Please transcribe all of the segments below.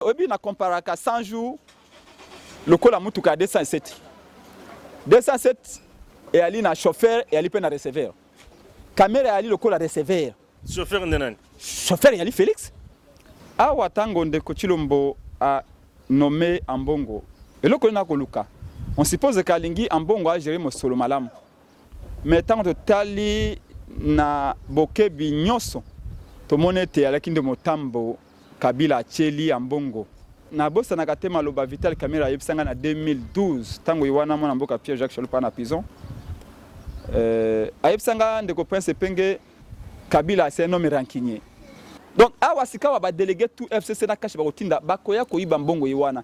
Oyebi na comparaka 100 jours lokola mutuka ya 207. 207 eyali na chauffeur eyali mpe na receveur. Kamera eyali lokola receveur. Chauffeur nde nani? Chauffeur eyali Felix. Awa tango ndeko Chilombo a nomme Ambongo, eloko nini akoluka? On suppose kalingi Ambongo a gérer mosolo malamu. Mais ntango totali na bokebi nyonso, tomoni ete eyalaki nde motambo Kabila atyeli Ambongo. Nabosanaka te maloba Vital Kamerhe ayebisa ngai na 2012 ntango ye wana mwana mboka Pierre Jacques Chalupa na prison. Euh, ayebisa ngai ndeko Prince Epenge, Kabila c'est un homme rancunier. Donc awa sikawa ba délégué tout FCC na kashi bakotinda bakoya koyiba mbongo ye wana.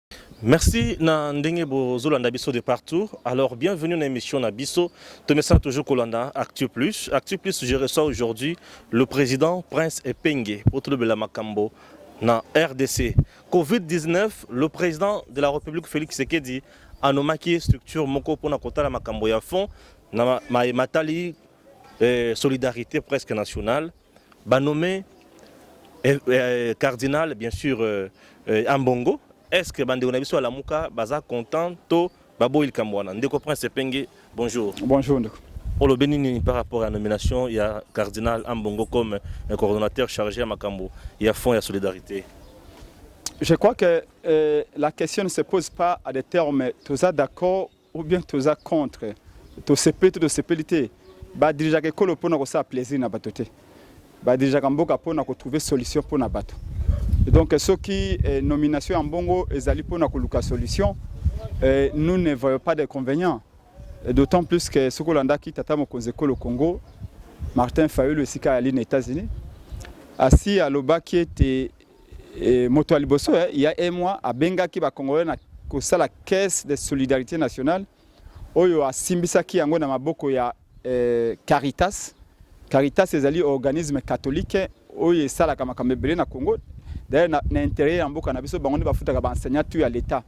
Merci na ndenge bozolanda biso de partout. Alors bienvenue na émission na biso. Tomesana toujours kolanda Actu Plus. Actu Plus je reçois aujourd'hui le président Prince Epenge pour tolobela makambo na RDC. Covid-19, le président de la République Félix Tshisekedi anomaki structure moko pona kotala makambo ya fond na ma- ma- matali eh, solidarité presque nationale. Ba nommer eh, eh, cardinal bien sûr euh, euh, Ambongo est-ce que bandeko na biso ya Lamuka baza content to baboyi likambo wana ndeko Prince Epenge bonjour Bonjour ndeko. olobi nini par rapport ya nomination ya cardinal Ambongo comme euh, coordonnateur chargé ya makambo ya fonds ya solidarité Je crois que euh, la question ne se pose pas à des termes toza d'accord Ou bien toza contre tosepeli to tosepeli te badirigeaka ekolo mpo na kosala plaisir na bato te badirigeaka mboka mpo na kotrouve solution mpo na bato donc soki eh, nomination ya mbongo ezali mpo na koluka solution eh, nous ne voyons pas d'inconvénient d'autant plus que soki olandaki tata mokonzi ekolo congo martin fayulu esika ayali na états-unis asi alobaki ete Et moto ya liboso il y a un mois abengaki ba congolais na kosala caisse de solidarité nationale oyo asimbisaki yango na maboko ya eh, Caritas. Caritas ezali organisme catholique oyo esalaka makambo ebele na Congo. D'ailleurs na, na intérêt ya mboka na biso bango nde bafutaka ba enseignants tout ya l'État.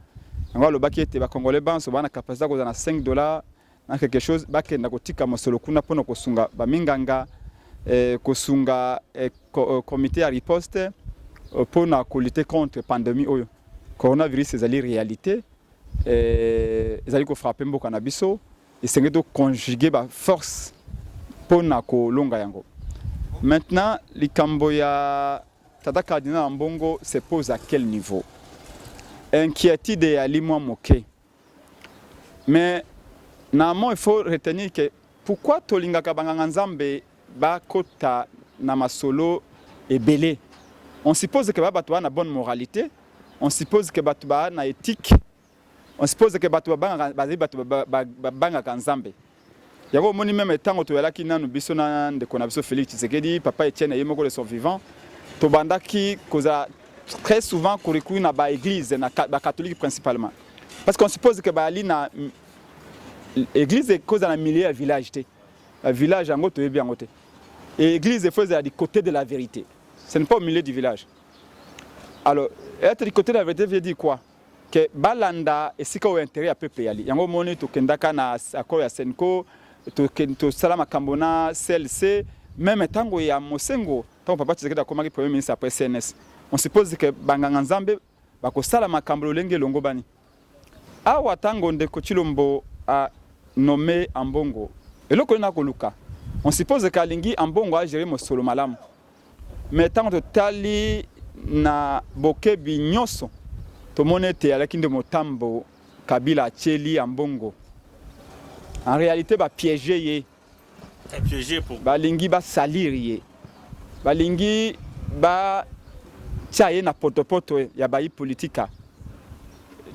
Yango alobaki ete ba congolais banso bana capacité ya kozala na 5 dollars En quelque chose, bakenda kotika mosolo kuna mpo na kosunga baminganga, eh, kosunga eh, eh comité ya riposte eh, mpo na kolite contre pandemie oyo coronavirus ezali réalité eh, ezali kofrape mboka na biso esengeli toconjuge baforce mpo na kolonga yango maintenant likambo ya tata cardinal ya mbongo se pose à quel niveau inquiétude eyali mwa moke Mais na amont il faut retenir que pourquoi tolingaka ba nganga nzambe ba kota na masolo ebele? On suppose que ba batu ba na bonne moralite, on suppose que batu ba na ethique, on suppose que batu ba bangaka bazali batu ba bangaka nzambe. Yango omoni meme tango toyalaki nanu biso na ndeko na biso Felix Tshisekedi, papa Etienne ye moko de son vivant, tobandaki kozala très souvent kurikuri na ba eglise na ba catholique principalement parce qu'on suppose que bayali na église ekozala na milieu ya village te euh, village yango toyebi yango te et église efo ezala du côté de la vérité ce n'est pas au milieu du village alors être du côté de la vérité veut dire quoi que balanda esika oyo interet ya peuple yali yango omoni tokendaka na accord ya senco tosala makambo na clc meme ntango ya mosengo ntango papa tshisekedi akomaki premier ministre après cns on suppose que banganga nzambe bakosala makambo lolenge elongobani awa ntango ndeko chilombo a nomme ambongo eloko nini akoluka on suppose que alingi ambongo agere mosolo malamu Mais tango totali na bokebi nyoso, tomoni ete alaki nde motambo Kabila atieli Ambongo. En realite ba pieger ye. Balingi ba salir ye. Balingi ba tia ye na potopoto ya bayi politika.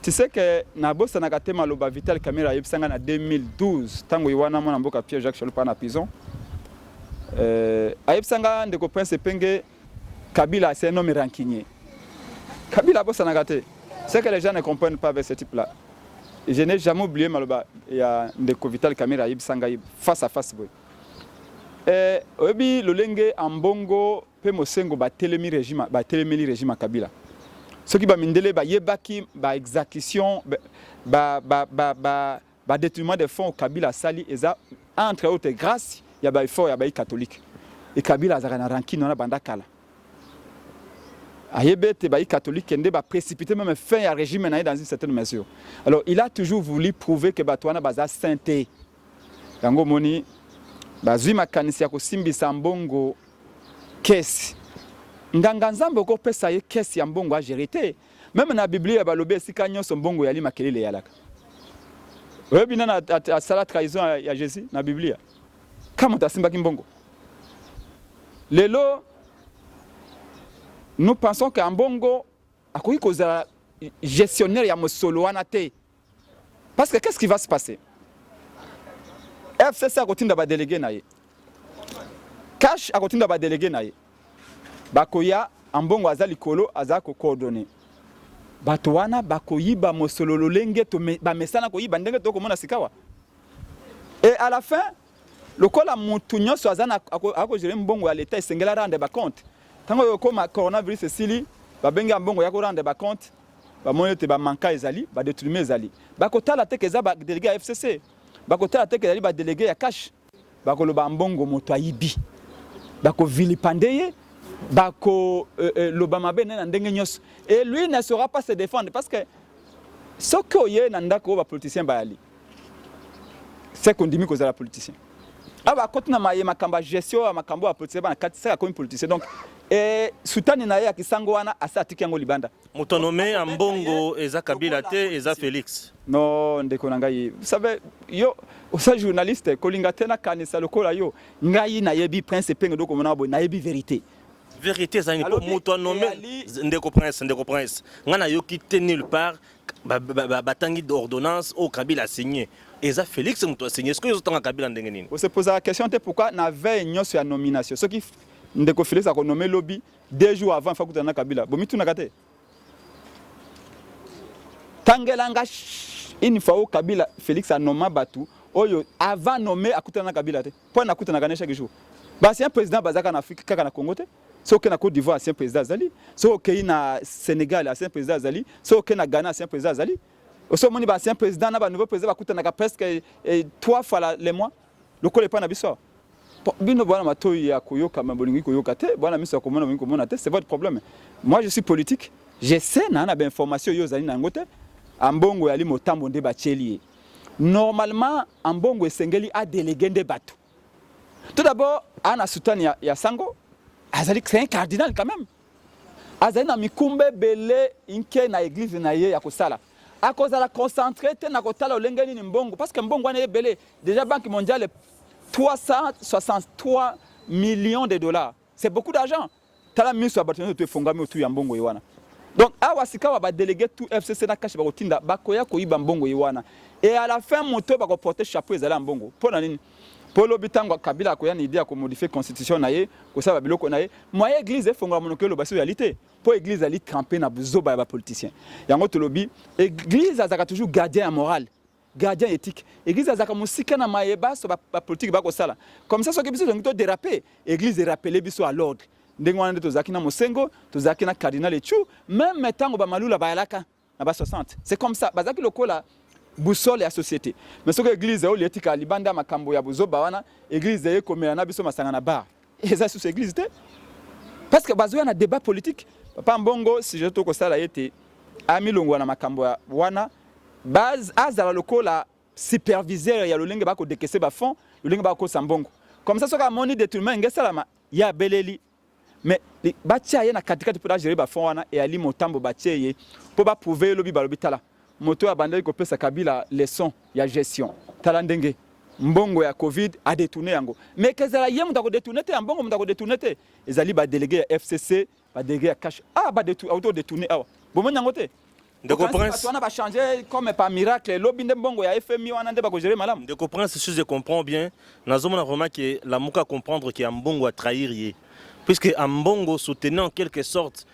Tu sais que nabosanaka te maloba Vital Kamerhe ayebisa nga na 2012 tango ye wana mwana mboka Pierre Jacques Shalopar na prison. Euh, ayebisa nga ndeko Prince Epenge Kabila c'est un homme rancunier. Kabila abosanaka te. C'est que les gens ne comprennent pas avec ce type là. Je n'ai jamais oublié maloba ya ndeko Vital Kamera ayebisa ngai face à face boye. Eh, oyebi lolenge ambongo mpe mosengo batelemi regime batelemeli regime ya kabila soki bamindele bayebaki baexacution ba, ba, ba, ba, ba Ba detournement de fonds Kabila asali eza entre autres grace ya ba effort ya bayi catholique. Et Kabila azaka na rancune wana banda kala. Ayebi ete bayi catholique nde ba précipiter même fin ya regime na ye dans une certaine mesure. Alors il a toujours voulu prouver que bato wana baza saint te. Yango omoni bazwi makanisi ya kosimbisa mbongo kesi. Nganga Nzambe okopesa ye kesi ya mbongo agere te. Meme na Biblia balobi esika nyonso mbongo yali makelele yalaka. Oyebi nani asala trahison ya Jesus na Biblia? Kama moto asimbaki mbongo. Lelo nous pensons que ambongo akoki kozala gestionnaire ya mosolo wana te. Parce que qu'est-ce qui va se passer? FCC akotinda ba délégués na ye. Cash akotinda ba délégués na ye. Bakoya ambongo aza likolo aza ko coordonner. Bato wana bakoyiba mosolo lolenge bamesana koyiba ndenge tokomona sikawa. Et à la fin, Lokola mutu nionso aza na ako jere mbongo ya leta esengela rendre ba compte tango yo koma coronavirus esili ba bengi ya mbongo ya ko rendre ba compte ba moni ete ba manka ezali ba detrume ezali ba kotala teke eza ba delege ya FCC ba kotala teke ezali ba delege ya cash ba koloba mbongo moto ayibi ba ko vilipande ye ba ko euh, euh, loba mabe na ndenge nionso et lui ne saura pas se défendre parce que soki oye na ndako ba politiciens bayali C'est qu'on dit que vous êtes politicien. Ah bah quand on a maillé ma camba gestion, ma cambo à politicien, bah quand c'est comme politicien donc et soutane na ya kisango wana asa atiki yango libanda. Moto nommé Ambongo eza Kabila te eza Felix. Non ndeko na ngai. Vous savez yo osa journaliste kolinga tena kanisa lokola yo ngai na yebi prince penge doko mona boy na yebi vérité. Vérité ezali moto nommé ndeko prince ndeko prince. Ngana yoki te nulle part batangi ordonnance oyo kabila asigne eza félix moto asigne soki ezotanga kabila ndenge nini ose posaka question te pourquoi na veille nyonso ya nomination soki ndeko félix akonome lobi deux jours avant fa kutana na kabila bomitunaka te tangela nga une fois oyo kabila félix anoma bato oyo avant nome akutana na kabila te mpo nakutanaka ne chaque jour basi un président bazalaka na afrique kaka na congo te soki okei na Cote d'Ivoire ancien président azali, soki okei na Senegal ancien président azali, soki okei na Ghana ancien président azali. Osi omoni ba ancien président na ba nouveau président bakutanaka presque eh, eh, trois fois la, le mois lokola epai na biso awa bino bwana matoi ya koyoka ma bolingi koyoka te bwana miso ya komona bolingi komona te c'est votre problème moi je suis politique je sais na na ba information yo ozali na yango te ambongo yali motambo nde batieli ye normalement ambongo esengeli adelege nde bato Tout d'abord, ana soutane ya, ya sango azali c'est un cardinal quand même azali na mikumba ebele inke na église na ye ya kosala akozala concentré te na kotala olenge nini mbongo parce que mbongo wana ebele déjà banque mondiale 363 millions de dollars c'est beaucoup d'argent Tala miso ya bato nyonso to efongami otu ya mbongo ye wana. Donc awa sikawa ba delege tout FCC na kashi bakotinda bakoya koyiba mbongo ye wana et à la fin moto bako porter chapeau ezali ya mbongo mpo na nini? Mpo lobi ntango Kabila akoya na idee ya ko modifier constitution na ye kosala biloko na ye moyen eglise efongola monoko eloba soki ezali te mpo eglise ezali trempe na buzoba ya ba politiciens yango tolobi eglise azalaka toujours gardien ya morale gardien ethique église azaka musika na maye baso ba, ba politique ba kosala comme ça soki biso zongi to déraper église e rappeler biso à l'ordre ndenge wana nde tozalaki na mosengo tozalaki na cardinal echu meme ntango bamalula bayalaka na ba 60 c'est comme ça bazalaki lokola boussole ya société mais soki église oyo etikala libanda makambo ya buzoba wana église ekomela na biso masanga na bar eza susu eglise te parce que bazoya na débat politique papa mbongo sujet to kosala ye te amilongwa na makambo ya wana base azala lokola superviseur ya lolenge bakodekese bafond lolenge bakokosa mbongo comme ça soki amoni détournement enge esalama ye abeleli mais batia ye na katikati mpo agere bafond wana eyali motambo batie ye mpo baprouve ye lobi balobi tala Moto oyo abandaki kopesa Kabila leçon ya gestion. Tala ndenge mbongo ya Covid a detourner yango. Mais kezala ye moto ako detourner te ya mbongo moto ako detourner te. Ezali ba délégué ya FCC, ba délégué ya cash. Ah ba detourner auto detourner awa. Bomoni yango te? Ndeko Prince, wana ba changer comme par miracle. Lobi nde mbongo ya FMI wana nde bako gérer malamu. Ndeko Prince, si je comprends bien, nazomona vraiment que la muka comprendre que Ambongo a trahir ye. Puisque Ambongo soutenait en quelque sorte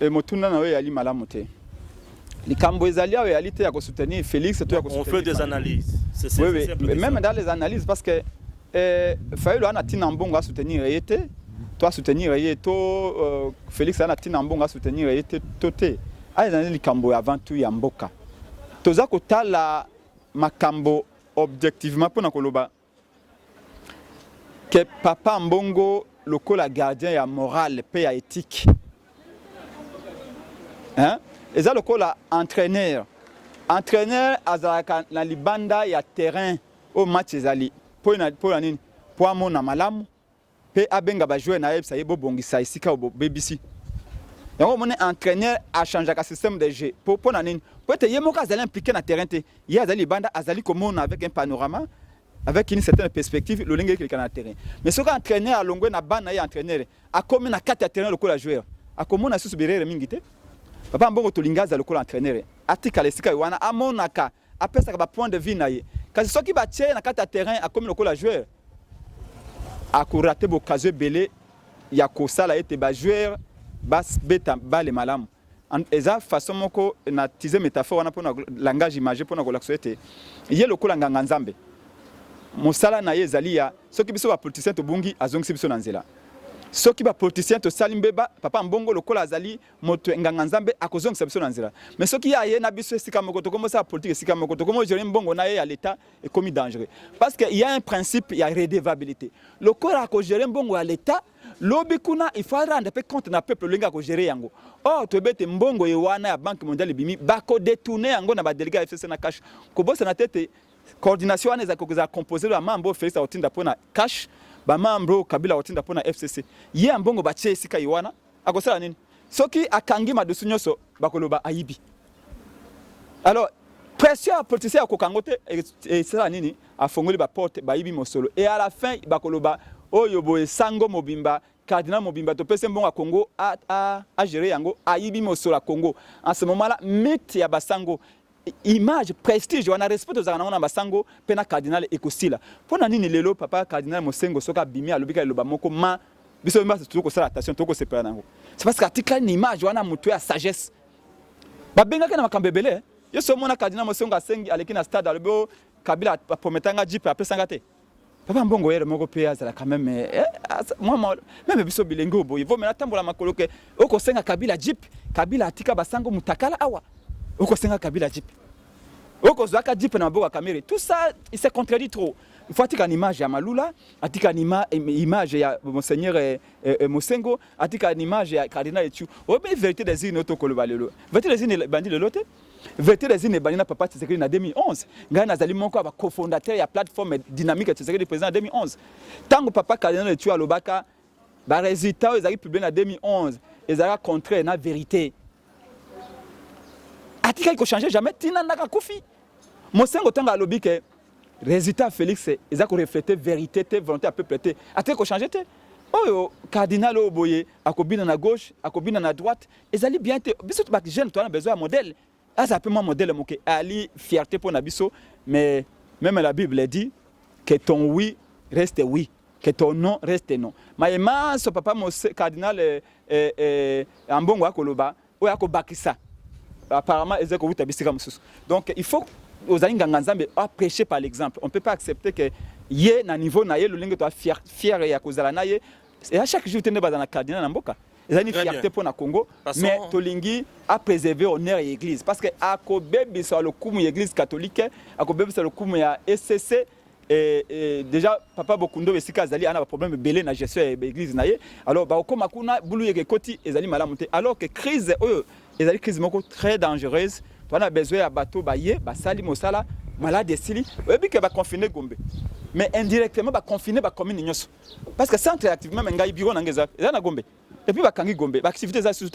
E, motuna na yo eyali malamu te. Likambo ezali awa eyali te ya ko soutenir Felix to ya ko soutenir. On fait des analyses. C'est ça. Oui, oui. Même dans les analyses parce que eh, Fayulu ana tina mbongo a soutenir ye te to a soutenir ye to euh, Felix ana tina mbongo a soutenir ye te to te. Ayo ezali likambo ya avant tout ya mboka. Toza kotala makambo objectivement mpo na koloba que papa Ambongo lokola gardien ya morale pe ya ethique hein? eza lokola entraîneur entraîneur azalaka na libanda ya terrain oyo match ezali mpo na nini mpo amona malamu pe abenga ba joueurs naye ayebisa ye bobongisa esika oyo bobebisi yango omoni entraîneur achangeaka système de jeu po mpo na nini mpo ete ye moko azali impliqué na terrain te ye azali libanda azali komona avec un panorama avec une certaine perspective lolenge ekeleka na terrain mais soki entraîneur alongwe na bana ye entraîneur akomi na kati ya terrain lokola joueur akomona lisusu birere mingi te papa mbongo tolingi aza lokola entraîneur atikala esika ye wana amonaka apesaka ba point de vue na ye kasi soki batye ye na kati ya terrain akomi lokola joueur akorate bokazo ebele ya kosala ete bajoueur babeta bale malamu eza façon moko na tize métaphore wana mpona langage image mpona kolakisa ete ye lokola nganga nzambe mosala na ye ezali ya soki biso bapoliticien tobungi azongisi biso na nzela soki bapoliticien tosali mbeba papa mbongo lokola azali moto nganga nzambe akozongisa biso na nzela mais soki ye aye na biso esika moko tokomi osala politique esika moko tokomi ojere mbongo na ye ya leta ekomi dangereux parce que ya un principe ya redevabilité lokola akogere mbongo ya leta lobi kuna il faut arendre mpe compte na peuple olenge akogere yango or toyebi ete mbongo ye wana ya banque mondiale ebimi bakodetourne yango na badelege ya fcc na cash kobosana te ete coordination wana ezali kokozala composé ya mambo oyo felix akotinda mpo na cash bamambre oyo kabila akotinda mpo na fcc ye ya mbongo batye esika ye wana akosala nini soki akangi madusu nyonso bakoloba ayibi alors pression ya politicien ya kokango te esala nini afongoli baporte bayibi mosolo e à la fin bakoloba oyo boye sango mobimba cardinal mobimba topesi mbongo ya congo agere yango ayibi mosolo ya congo en ce moment la mythe ya basango image prestige wana respect tozalaka nango na basango mpe na cardinal ekosila mpo na nini lelo papa cardinal mosengo soki abimi alobika eloba moko ma biso basi tokoki kosala attention tokoki kosepela nango c'est parce que atikali na image wana moto ya sagesse babengaki na makambo ebele yo so omona cardinal mosengo asengi aleki na stade alobi oh, kabila aprometanga jipe apesanga te Papa Mbongo yere moko pe azalaka meme eh, eh mwa meme biso bilenge oyo boye vomela tambola makolo ke okosenga Kabila Jeep Kabila atika basango mutakala awa okosenga Kabila Jeep okozwaka Jeep na maboko ya Kamerhe tout ça il se contredit trop il faut atika na image ya Malula atika na image ya monseigneur eh, eh, eh, Mosengo atika na image ya cardinal Echu oyebi verité des urnes oyo tokoloba lelo verité des urnes ebandi lelo te Verite des urnes ebandi na Papa Tshisekedi na 2011. Ngai nazali moko ya ba cofondateurs ya plateforme dynamique ya Tshisekedi président na 2011. Tango Papa Cardinal Etua alobaka ba résultats oyo ezali publié na 2011 ezalaka contraire na verite. Atikaki ko changer jamais tina ndaka kufi. Mosengo tango alobi ke résultat Félix eza ko refléter verite te, volonté ya peuple te. Atikaki ko changer te. Oyo cardinal oyo boye akobina na gauche, akobina na droite, ezali bien te biso ba jeune toana besoin ya modèle aza pe mwa modèle moke ali fierté pona biso mais même la bible dit que ton oui reste oui que ton non reste non maye manso papa mose cardinal eh, eh, eh, ambongo akoloba oyo akobakisa apparemment ezali kowuta bisika mosusu donc il faut ozali nganga nzambe apreche par l'exemple on peut pas accepter que ye na niveau na ye lolenge toa fier, fier ya kozala na ye ya chaque jour te nde bazala na cardinal na mboka eza ni fierté mpo na congo mais tolingi apréserve honneur ya église parce que akobebisa lokumu ya église catholique akobebisa lokumu ya ecc Et, et déjà papa bokundo esika azali ana baproblème ebele na gestion ya église na ye alors bakokoma kuna bulu yeke ekoti ezali malamu te alors que crise oyo ezali crise moko très dangereuse toana besoin ya bato baye basali mosala malade esili oyebi ke baconfine gombe mais indirectement baconfine bacommune nyonso Parce que centre active même ngai bureau na ngai eza eza na Gombe. Et puis bakangi Gombe, ba activité eza sous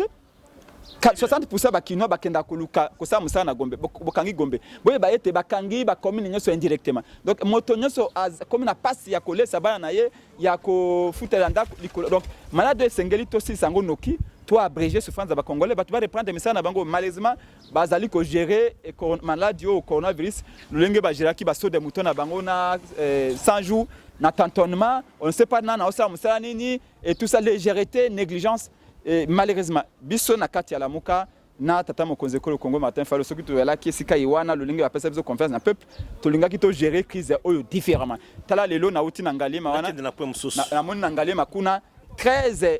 60% ba kinois bakenda koluka kosala mosala na Gombe, bokangi Gombe. Boye ba ete bakangi ba commune nyonso indirectement. Donc moto nyonso akomi na pasi ya kolesa bana na ye ya kofutela ndako likolo. Donc malade esengeli tosilisa yango noki to abréger souffrance ya ba Congolais, bato ba reprendre misala na bango malheureusement bazali ko gerer eh, maladi oyo coronavirus lolenge bageraki basoda ya moto na bango na 100 eh, jours na tantonnement on ne sait pas nana osala mosala nini et tout ça légèreté négligence et malheureusement biso na kati ya lamuka na tata mokonzi ekolo congo martin falo soki toyalaki esika ye wana lolenge bapesa biso confiance na peuple tolingaki togere crise oyo différemment tala lelo nauti na ngaliema wana namoni na ngaliema kuna 13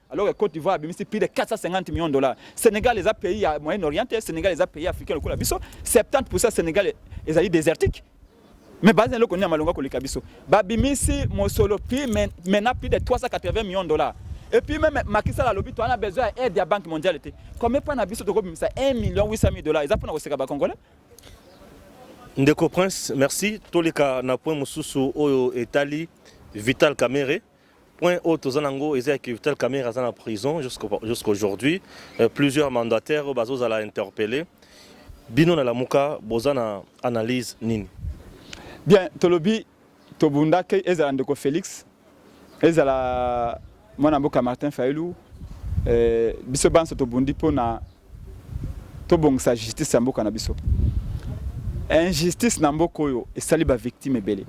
alors que Côte d'Ivoire abimisi plus de 450 millions de dollars. Sénégal les a pays à Moyen-Orient, Sénégal les a pays africains lokola biso, 70% Sénégal ezali désertique. Mais baza loko ni malonga koleka biso. Babimisi mosolo puis maintenant plus de 380 millions de dollars. Et puis même Macky Sall alobi to ana besoin aide ya Banque mondiale te. Comme pas na biso toko bimisa 1 million 800 000 dollars. Eza pona koseka ba congolais. Ndeko Prince, merci. Toleka na point mosusu oyo etali Vital Kamerhe. Point haut toza nango eza que Vital Kamerhe aza na prison jusqu'à aujourd'hui euh, plusieurs mandataires bazo zala interpellés bino na lamuka boza na analyse nini bien tolobi tobundaki ezala ndeko Felix ezala mwana mboka Martin Fayulu euh, biso banso tobundi pona tobongisa justice ya mboka na biso injustice na mboka oyo esali ba victime ebele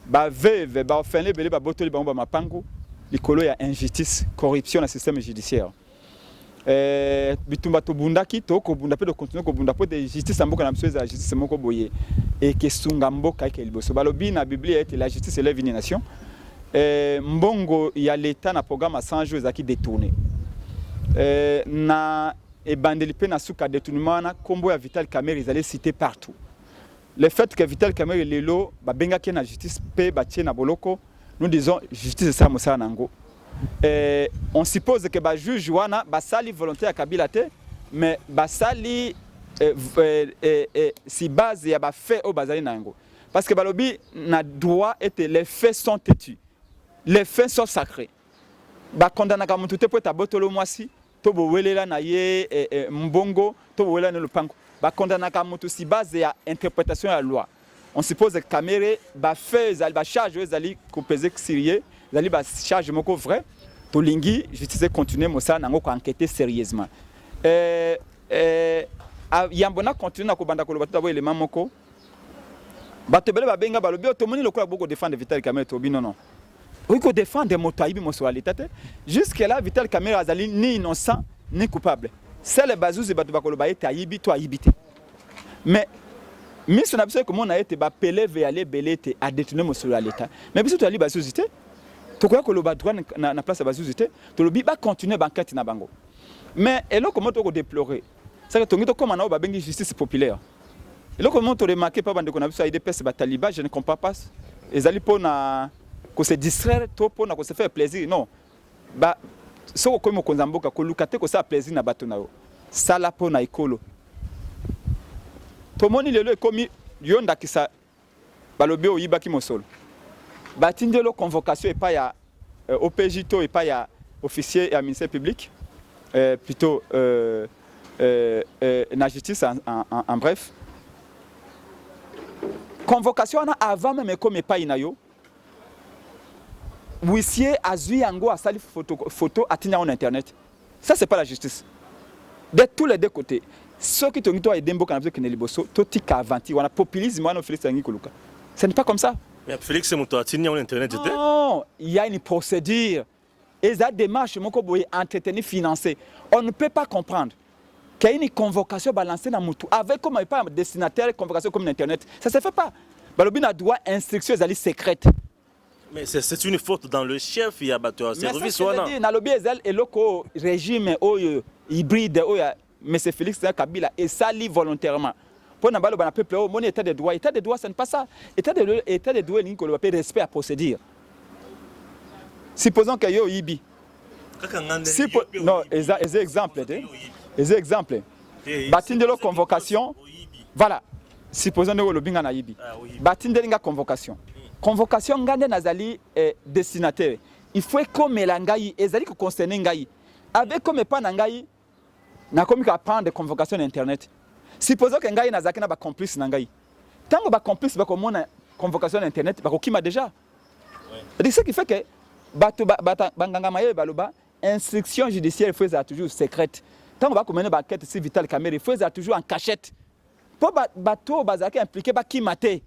ba veuve ba orphelin ebele babotoli bango ba mapangu likolo ya injustice corruption na système judiciaire eh, bitumba tobundaki tokobunda mpe tokontinue kobunda mpo ete justice ya mboka na biso ezala justice moko boye ekesunga mboka eke liboso balobi na biblia ete la justice elève une nation Eh, mbongo ya l'etat na programme ya 100 jours ezalaki detourne eh, na ebandeli mpe na suka detournement wana nkombo ya vital camere ezali cité partout le fait que vital camere lelo babengaki ye na justice mpe batie na boloko nous disons justice esala mosala na yango eh, on suppose que bajuge wana basali volonté ya kabila te mais basali eh, eh, eh, eh, si base ya bafe oyo bazali na yango Parce que balobi na droit ete les faits sont têtus. Les faits sont sacrés. Ba condamnaka mutu te po eta botolo mwasi to bowelela na ye eh, eh, mbongo to bowelela na lopango. Ba condamnaka mutu si base ya interpretation ya loi. On suppose que Kamere ba faits ezali ba charges oyo ezali ko peser sur ye, ezali ba charges moko vrai. Tolingi justice continuer mosala nango ko enquêter sérieusement. Euh, euh, ah, yambo na continuer na kobanda koloba tout d'abord élément moko Bato ebele babenga balobi oyo oh, tomoni lokola boko defendre Vital Kamerhe tobi non non. Oyi ko defendre moto ayibi moso ya leta te. Jusque là Vital Kamerhe azali ni innocent ni coupable. Sele bazuzi bato bakoloba ete ayibi to ayibi te. Mais miso na biso ekomona ete bapeleve ya lebele ete adetourne mosolo ya leta. Mais biso toyali bazuzi te. Tokoya koloba droit na, na place ya bazuzi te. Tolobi ba continuer bankete na bango. Mais eloko moto ko deplorer. Saka tongi tokoma na oyo babengi justice populaire. Eloko moko to remarquer pa bandeko na biso ya UDPS ba talibans, je ne comprends pas. Ezali mpo na ko se distraire to mpo na ko se faire plaisir? Non. Ba soki okomi mokonzi ya mboka koluka te kosala plaisir na bato na yo. Sala mpo na ekolo. Tomoni lelo ekomi yo ndakisa Balobi o yibaki mosolo. Ba tindi yo convocation epa ya euh, OPJ to epa ya officier ya ministère public euh, plutôt euh, euh, euh, na justice en, en, en, en bref. Convocation wana avant même ekomi epai na yo, Huissier azui yango asali photo, photo atindi yango na internet. Ça c'est pas la justice. De tous les deux côtés, soki tolingi to aide mboka na biso kende liboso, totika aventure wana populisme wana Felix alingi koluka. Ce n'est pas comme ça. Mais Felix moto atindi yango na internet te. Non, il y a une procédure. Eza demarche moko boye entretenu finance. On ne peut pas comprendre. Qu'il y a une convocation balancée na mutu avec comme pas destinataire convocation comme internet. Ça se fait pas. Balobi na droit instruction ezali secrète. Mais c'est une faute dans le chef ya bato ya service wana. Mais ça je dis na lobi ezali eloko régime oyo hybride oyo Monsieur Felix na Kabila esali volontairement mpo na baloba na peuple oyo moni état de droit état de droit ça ne pas ça état de état de droit elingi koloba mpe respect ya procédure supposons que yo oyibi non eza eza exemple te eza exemple batindelo convocation voilà supposons ndenge olobi nga nayibi ah, batindeli nga convocation hmm. convocation nga nde nazali eh, destinataire il faut ekomela ngai ezali koconcerne ngai avec comme epa na ngai Nakomi ko apprendre convocation na internet. Supposons que ngai nazalaki na ba complices na ngai. Tango ba complices bakomona convocation na internet, bakokima dejà. C'est ce qui fait que bato banganga mayele baloba instruction judiciaire faut ezala toujours secrète. Tango bakomene ba enquête si Vital Kamerhe faut ezala toujours en cachette. Mpo bato oyo bazalaki impliqué bakima te.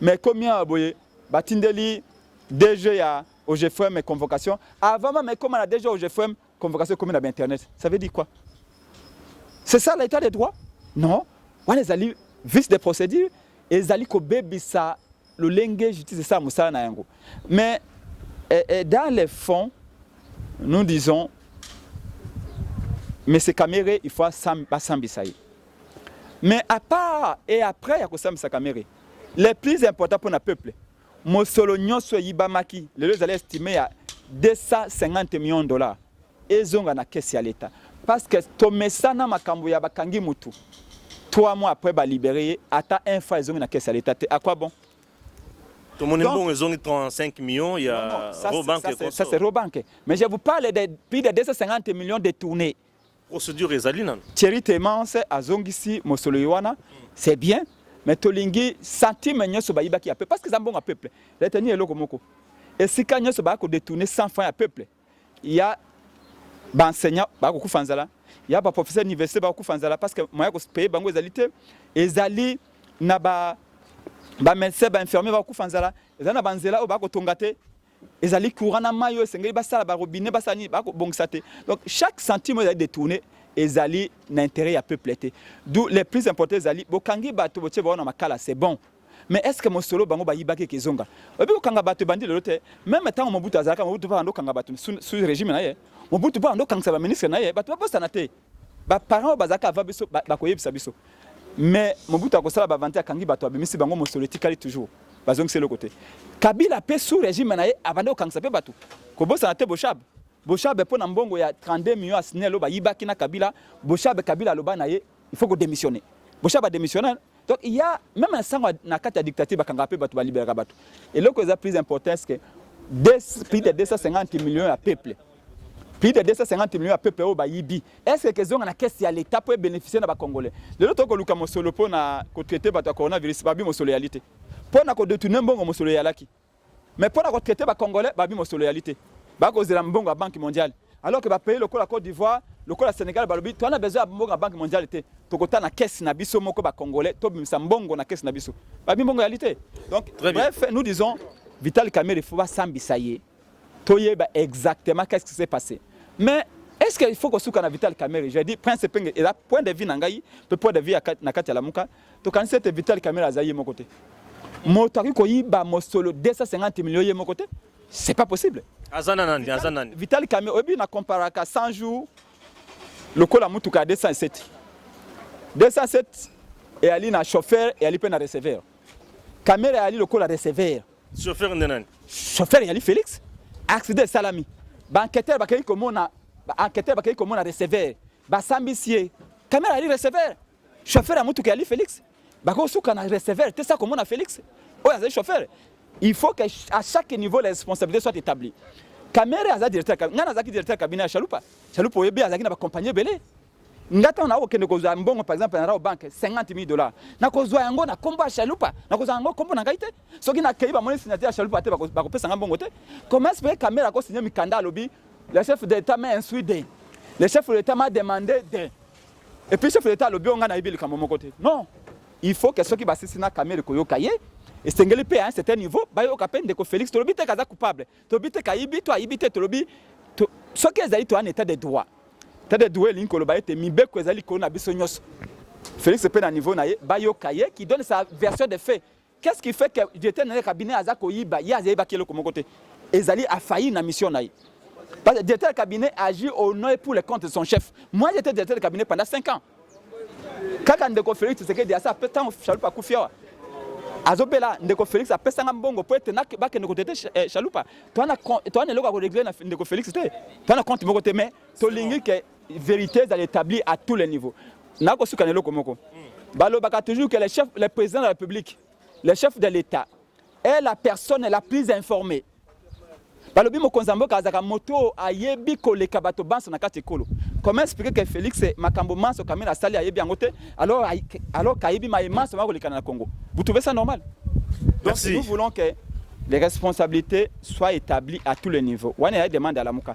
Mais ekomi awa boye batindeli DG ya OGFM convocation avant même ekoma na DG OGFM convocation ekomi na ba internet. Ça veut dire quoi? C'est ça l'état de droit? Non. Wana ezali vice de procédure ezali kobebisa lolenge justice esala mosala na yango. Mais et, eh, et eh, dans les fonds nous disons mais c'est Kamere il faut basambisa ye. Mais à part et après ya kosambisa Kamere, le plus important pour na peuple, mosolo nyonso eyibamaki lelo ezali estime ya 250 millions de dollars ezonga na caisse ya l'État. Parce que tomesana makambo ya bakangi mutu. 3 mois après ba libérer ye, ata un franc ezongi na caisse ya l'État te. À quoi bon? tomoni Donc- mbongo ezongi 35 millions ya Non, non, ça, c'est- Robank ça, c'est- ça, c'est Robank. Mais je vous parle de plus de 250 millions détournés. procédure ezali nanu Thierry Temance azongisi mosoloyo wana c'est bien mais tolingi centime nyonso bayibaki ya peuple parce que eza mbongo ya peuple reteni eloko moko esika nyonso baya kodetourne 100 francs ya peuple ya baenseignant bakokufa nzala ya baprofesseur ya université bakokufa nzala parce que moya kopaye bango ezali te ezali na ba bamédecin bainfirmier bakokufa nzala ezali na banzela oyo bakotonga te ezali courant na mayi oyo esengeli basala ba robinet basala nini bakobongisa te donc chaque centime oyo ezali détourne ezali na intérêt ya peuple te d'où les plus important ezali bokangi bato botie bango na makala c'est bon mais est ce que mosolo bango bayibaki eke ezonga oyebi kokanga bato ebandi lelo te meme ntango mobutu azalaka mobutu mpo ando kanga bato sous régime na ye mobutu mpo ando kangisa baministre na ye bato babosana te Ba parents oyo bazalaka avant biso bakoyebisa biso. Mais Mobutu akosala ba vente akangi bato abimisi bango mosolo etikali toujours. Bazongisi eloko te. Kabila pe sous régime na ye abanda kokangisa pe bato. Kobosana te Boshab. Boshab mpo na mbongo ya 32 millions ya SNEL oyo bayibaki na Kabila, Boshab Kabila aloba na ye il faut ko demissionner. Boshab a demissionner Donc il y a même un sang na kati ya dictature bakanga pe bato ba liberaka bato. Eloko eza plus important est que des, plus de 250 millions ya peuple plus de 250 millions ya peuple oyo bayibi est-ce que kezonga na caisse ya l'etat po ebénéficier na bakongolais lelo toko luka mosolo po na kotraite bato ya coronavirus babi mosolo eyali te po na kodetourne mbongo mosolo eyalaki Mais pona ko traiter ba congolais babi mosolo ya lite. Ba ko zela mbongo ya banque mondiale. Alors que ba pays lokola Côte d'Ivoire, lokola Sénégal balobi to na besoin ya mbongo ya banque mondiale te. Tokota na caisse na biso moko ba congolais to bimisa mbongo na caisse na biso. Babi mbongo ya lite. Donc bref, nous disons Vital Kamerhe faut ba sambisa ye. Toyeba exactement qu'est-ce qui s'est passé. Mais est-ce qu'il faut kosuka na Vital Kamerhe? Je dis Prince Penge, et là, point de vue na ngai, point de vue na kati ya Lamuka, Tokanisi ete Vital Kamere aza ye moko te. Moto akoki koyiba mosolo 250 millions ye moko te. C'est pas possible. Aza na nani? Aza nani? Vital Kamere oyebi na comparaka 100 jours lokola mutuka ya 207. 207 eyali na chauffeur eyali mpe na receveur. Kamere eyali lokola receveur. Chauffeur nde nani? Chauffeur eyali Felix. Accident esalami. Ba enquêteurs bakei komona ba enquêteurs bakei komona receveur. Basambisi ye. Kamere eyali receveur. Chauffeur ya mutuka ya Felix bakosuka na receveur te sa komona Felix oyo azali chauffeur il faut que à chaque niveau la responsabilité soit établie kamere aza directeur ngai nazalaki directeur cabinet ya chalupa chalupa oyebi azalaki na bacompagnie ebele ngai ntango nakokende kozwa mbongo par exemple na rao banke 50 000 dollars nakozwa yango na nkombo ya chalupa nakozwa yango nkombo na ngai te soki nakei bamoni signature ya chalupa te bakopesa ngai mbongo te comment espere kamere akosigne mikanda alobi le chef de l'état m'a instruit de le chef de l'état m'a demandé de Et puis chef de l'État alobi nga nayebi likambo moko te. Non. Il faut que soki basisi na Kamere koyoka ye esengeli mpe à un certain niveau bayoka mpe ndeko Félix tolobi te kaza coupable tolobi te kayibi to ayibi te tolobi soki ezali to un état de droit état de droit elingi koloba ete mibeko ezali likolo na biso nyonso Félix mpe na niveau na ye bayoka ye qui donne sa version de fait Qu'est ce qui fait que directeur na cabinet aza koyiba ye azayiba ki eloko moko te ezali afailli na mission na ye parce que directeur de cabinet agit au nom et pour le compte de son chef moi j'étais directeur de cabinet pendant 5 ans kaka ndeko Felix Tshisekedi asa pe tango Chalupa akufi awa azobela ndeko Felix apesanga mbongo po ete bakende kotete eh, Chalupa toana eloko ya koregle na ndeko Felix te toana compte moko te mais tolingi ke Verite ezali etabli à tous les niveaux. Nakosuka na eloko moko. Balobaka toujours que le chef, le président de la République, le chef de l'État est la personne la plus informée. balobi mokonzi ya mboka azalaka moto oyo ayebi koleka bato banso na kati ekolo comment expliquer que félix makambo manso kamina asali ayebi yango te alors alors kayebi maye manso ma kolekana na congo vous trouvez ça normal Merci. donc nous voulons que les responsabilités soient établies à tous les niveaux wana ya demande alamuka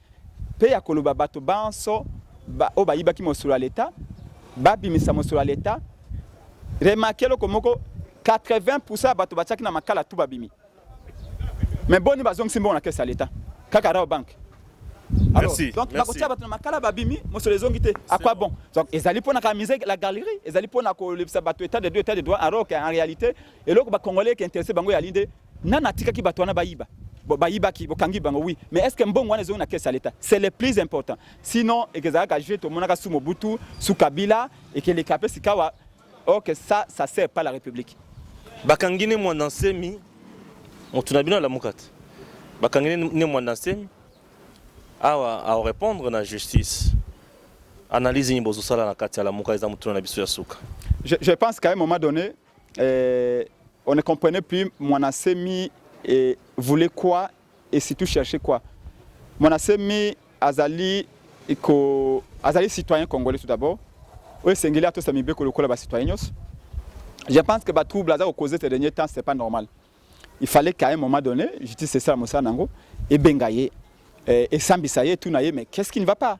mpe ya koloba bato banso ba, oyo bayibaki mosolo ya leta babimisa mosolo ya leta. Remarque eloko moko, 80% ya bato batiaki na makala tu babimi, mais boni bazongisi mbongo na kesi ya leta? Kaka Rao Bank. Alors, merci, donc bakotia bato na makala babimi mosolo ezongi te à quoi bon donc ezali mpo na kamise la galerie ezali mpo na kolebisa bato état de droit état de droit alors qu'en réalité eloko bacongolais eke intéresse bango yali nde Nani atikaki bato wana bayiba? Bon, bayibaki bokangi bango oui mais est ce que mbongo wana ezongi na caisse ya leta c'est le plus important sinon ekezalaka jeu tomonaka su mobutu su kabila ekeleka mpe sikawa ok ça ça sert pas la république bakangi ne mwanda nsemi moto na bino alamuka te bakangi ne mwanda nsemi awa aorépondre na justice analyse nini bozosala na kati ya lamuka eza motuna na biso ya suka je, je pense qu'à un moment donné Euh, on ne comprenait plus Mwanasemi et voulait quoi et surtout chercher quoi. Mwanasemi azali ko azali citoyen congolais tout d'abord. Oyo esengeli atosa mibeko lokola ba citoyen nyonso. Je pense que ba troubles aza kokoze ces derniers temps c'est pas normal. Il fallait qu'à un moment donné, justice esala mosala nango ebenga ye, eh, esambisa ye, tuna ye mais qu'est-ce qui ne va pas?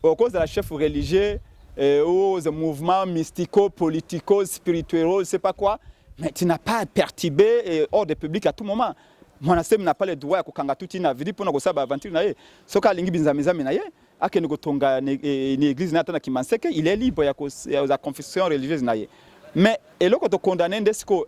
okozala chef religieux euh, ou oh, mouvement mystico politico spirituel c'est pas quoi mais tu n'as pas perturbé euh, ordre public à tout moment mwana semi na pas le droit ya kokanga tuti na vidi mpona kosala baaventure na ye soki alingi binzamizami na ye akende kotonga na eh, église na ata na kimanseke il est libre ya confession religieuse na ye mais eloko tokondane nde sikoyo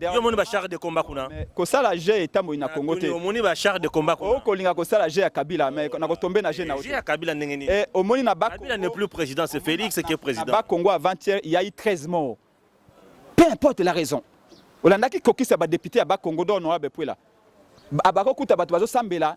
Yo moni ba char de combat kuna. Kosala jeu etamboli na Congo te. Omoni ba char de combat kuna. Okolinga kosala jeu ya Kabila mais na kotombe na jeu na yo. Jeu ya Kabila ndenge nini? Eh omoni na ba Kabila n'est plus président, c'est Félix qui est président. Ba Congo avant-hier, il y a eu 13 morts. Peu importe la raison. Olandaki kokisa ba députés ya ba Congo d'or honorable Puela. Abako kuta bato bazosambela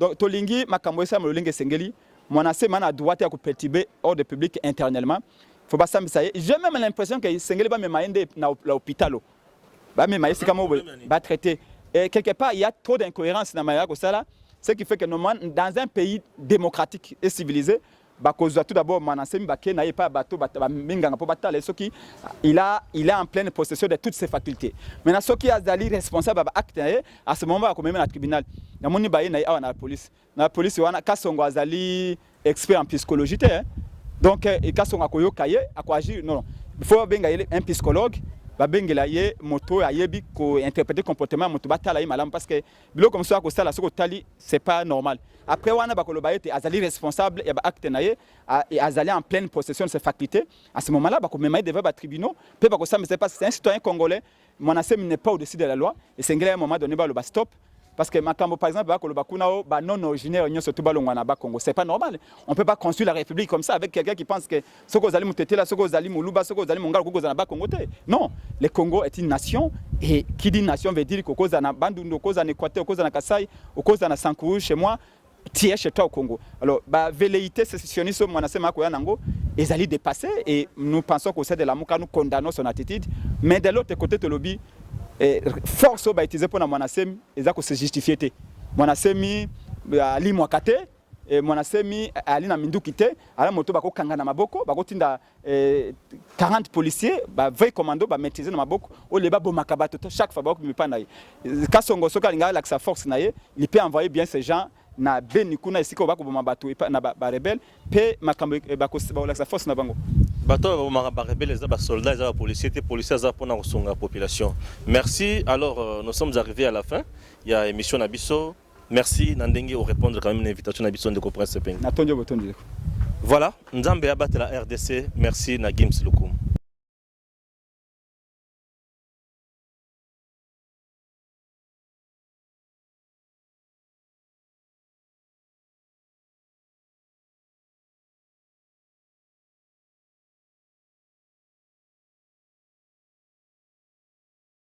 Donc tolingi makambo esalama lolenge esengeli. Mwana se mana droit ya ko perturber ordre public internellement. Faut basambisa ye. J'ai même l'impression que esengeli bamema ye nde na hôpital. Bamema ye sika moko ba traiter. Et quelque part il y a trop d'incohérence na mayaka kosala ce qui fait que normalement dans un pays démocratique et civilisé bakozwa tout d'abord Manansemi bake na ye epai ya bato baminganga mpo batala ye soki il a, il a en pleine possession de toutes ses facultés maintenant soki azali responsable ya baacte na ye à ce moment bakomema na tribunal namoni baye na ye awa na police na police wana kasongo azali expert en psychologie te eh. donc eh, kasongo akoyoka ye akoagir non fo babenga ye un psychologue babengela ye moto oyo ayebi kointerprete comportement ya moto batala ye malamu parce que biloko mosusu akosala soki otali c'est pas normal après wana bakoloba ete azali responsable ya baacte na ye azali en pleine possession de ses facultés à ce moment là bakomema ye devant batribunaux mpe bakosambisa ye parce que c'est un citoyen congolais mwanasemi n'est pas au-dessus de la loi esengeli ya moment donné baloba stop parce que makambo par exemple bakoloba kuna o ba non originaire nyonso tu balongwa na bakongo c'est pas normal on peut pas construire la république comme ça avec quelqu'un qui pense que soki ozali mutetela soki ozali muluba soki ozali mongala okoki kozala na bakongo te non le congo est une nation et qui dit nation veut dire kokozala na bandundu okozala na équateur okozala na kasai okozala na sankuru chez moi tiers chez toi au Congo. Alors, bah, velléité sécessionniste, moi, c'est ma nango, ils allaient dépasser et nous pensons qu'au sein de la Mouka, nous condamnons son attitude. Mais de l'autre côté, le lobby, eh, force au bas utilisé pour la Mwanasemi, ils allaient se justifier. Mwanasemi, bah, Ali Mwakate, E, eh, mwana semi eh, ali na minduki te ala moto bakokanga na maboko bakotinda e, eh, 40 policiers ba vrai commando ba maîtriser na maboko oyo babomaka bato chaque fois bakomi epai na ye kasongo soki alinga alakisa force na ye il peut envoyer bien ces gens na beni kuna esika oyo bakoboma bato na barebele mpe makambo bakolakisa force na bango bato oyo babomaka barebele eza basoldat eza bapolicier te policier aza mpona kosunga population merci alors euh, nous sommes arrivés à la fin ya émission na biso Merci na ndenge o repondre quand même na invitation na biso ndeko Prince Sepeng. Na tondi botondi ndeko. Voilà, Nzambe abatela RDC. Merci na Gims Lukum.